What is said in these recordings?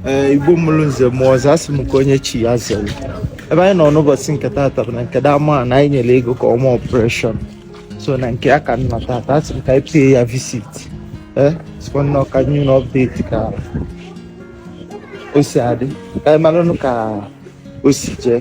ee igbo mụrụ nze mụọ ọzọ asị m ka onye chi ya zere ebe anyị nọ n'ụbọsị nke taata bụ na nke that man a anyị nyere ego ka ọ mee operation so na nke ya ka m nọ taata asị m ka anyị pay ya visit ee sịkwa nnọọ ka m nye unu update ka o si adị ka anyị maranụ ka o si jee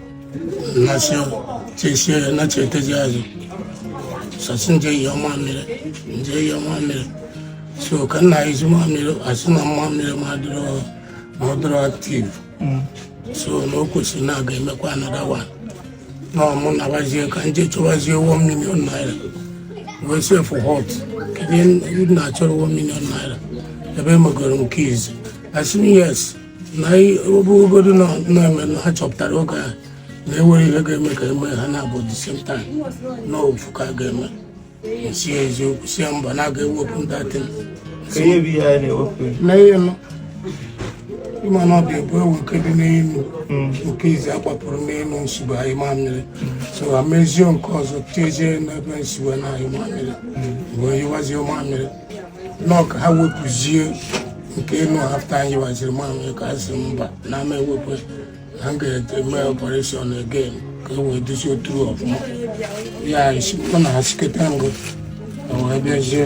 Nation chesie na chetezi azụ so a sị m jee nyụọ mamịrị m jee nyụọ mamịrị so ka m na-anyụzi mamịrị asị na mamịrị m adịrọ ma ọ dịrọ active so na o kwesịrị na a ga-emekwa another one na ọmụ nabazie ka m jee chọwazie one million naira wee sị for what kedu ihe na-achọrọ one million naira ebe emegoro m nke izi asị m yes na ọ bụgodu na-eme ha chọpụtara oge ahụ na enwerọ ihe ga-eme ka eme ha naabọ the same time na ofu ka a ga-eme sị eziokwu sị mba na a ga-ewepụ m that thing na ihe nọ ịma na ọ dị abụọ ewekebe n'elu hmm. nke izi agbapụrụ n'elu m sibu anyụ mamịrị so amezie nke ọzọ tezie n'ebe m sibu na-anyụ mamịrị hmm. wee nyụwazie mamịrị nọ ka ha wepụzie nke enu after a nyụwaziri mamịrị ka a sị mba na ama ewepụ ha ga-eme operation again ka e wee dozie otu ọfụma ya ọ na-asịkọta ngụ o wee bịazie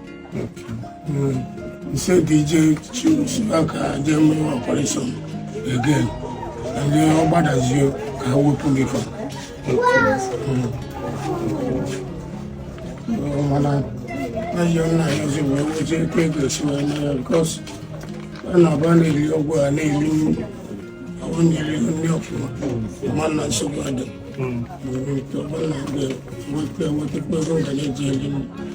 He said DJ choose back ka e mee operation again. And then ọ gbadazie ka e wepụ ya. Mana na yọ na yọ si wee wee jee kwe gosi wee na ya because a na-aba na-eri ọgwụ a na-eri ọgwụ nyere nri ọfụma ma na nsogbu adị. Mgbe ọ bụla na-aga wepụ ewepụ ego ga na-eji eri nri.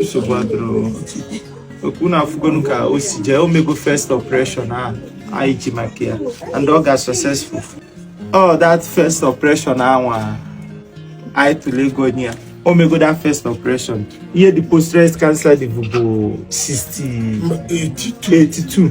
nsogbu adịrọ ọkwa unu afụgonu ka o si jee omego first operation a anyị ji maka ya and ọ ga successful all that first operation anwa anyị tụrụ ego nye ya omego that first operation ihe the postrate cancer dịbu bụ 62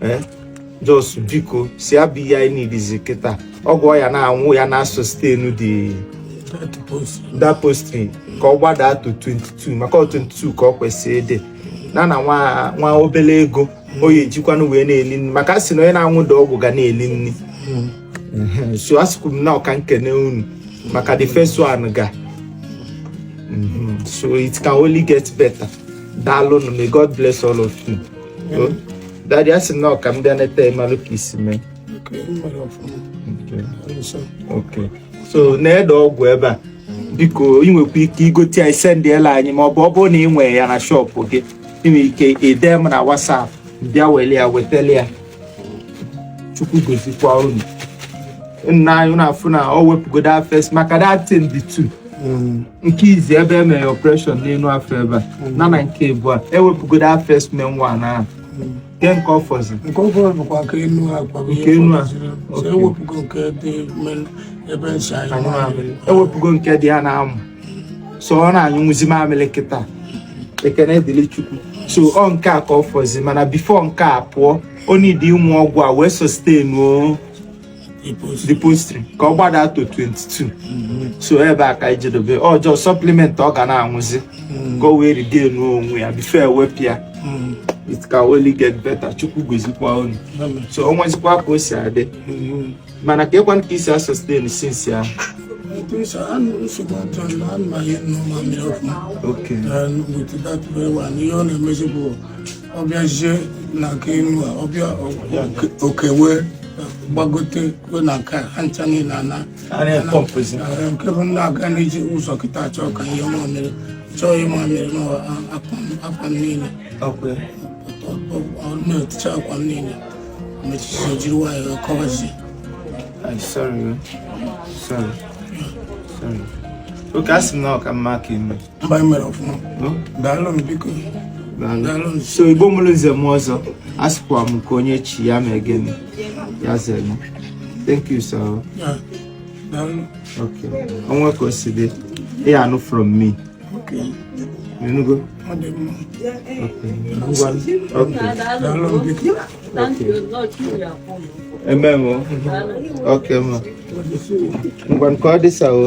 eh? just because ya bụ ihe anyị needizi kịta ọgwụ ọ ya na-anwụ ya na sustain that postrate ka ọ gbadaa to 22 maka 22 ka ọ kwesịrị ịdị na na nwa obele ego ọ ya ejikwanụ wee na-eli nri maka sị na onye na-anwụ that ọgwụ ga na-eli nri hmm. so asịkwu m nnọọ ka m kene unu maka the first one ga hmm. so it can only get better daalụ may God bless all of you daddy a sị na ọ ka m bịa nete malụ ka i si mee so na-ede ọgwụ ebe a biko ị nwekwa ike igote ya sendịela anyị ma ọ bụ ọ bụrụ na ị nwee ya na shop gị ị nwere ike ide m na WhatsApp bịa wele ya wetele ya chukwu gozikwa unu nna anyị na-afụ na o wepụgodo first maka that thing dị two Mm. nke izizi ebe e mere operation n'enu afọ ebe a mm. na na nke abụọ e wepụgodo first main one ahụ mm. nke nke ọ fọzi nke ọ fọzi bụkwa nke enu ọ kwa nke enu a e wepụgo nke dị ebe nsị anyị e wepụgo nke dị ya n'amụ so ọ na-anyụnwuzi mamịrị kịta ekene dịrị chukwu so ọ nke a ka ọ fọzi mana before nke a pụọ ọ needị ịnwụ ọgwụ a wee sustainụọ the prostate ka ọ gbada to 22 mm-hmm. so ebe a ka anyị jedebe ọjọọ supplement ọ ga na-anwụzi mm-hmm. ka o wee regain onwe ya before e wepụ ya mm-hmm. it can only get better chukwu gozikwa unu so o nwezikwa ka o si adị mana ka ịkwa ka i si asustain since ahụ Okay. And with that very one ihe ọ na-emezi ọ bịazie na nke enu a ọ bịa okewe gbagote kwe na nke ha ncha niile ana nke bụ ndị aga n'iji ụzọ kịta achọ ka ihe mamịrị chọọ ihe mamịrị n'akwa niile na-eticha akwa niile mechichi jiri nwayọọ kọwazie okay a sị m na ọ ka mma ka ime mba anyị mere ọfụma daalụ m biko so igbo mụrụ nze mụọ ọzọ a sịkwa m ka onye chi ya ma ege m ya zere thank you sir okay o nwee ka o si dị ị anụ from me okay ị nụgo okay okay ememe oke ma ngwa nke ọ dịsawo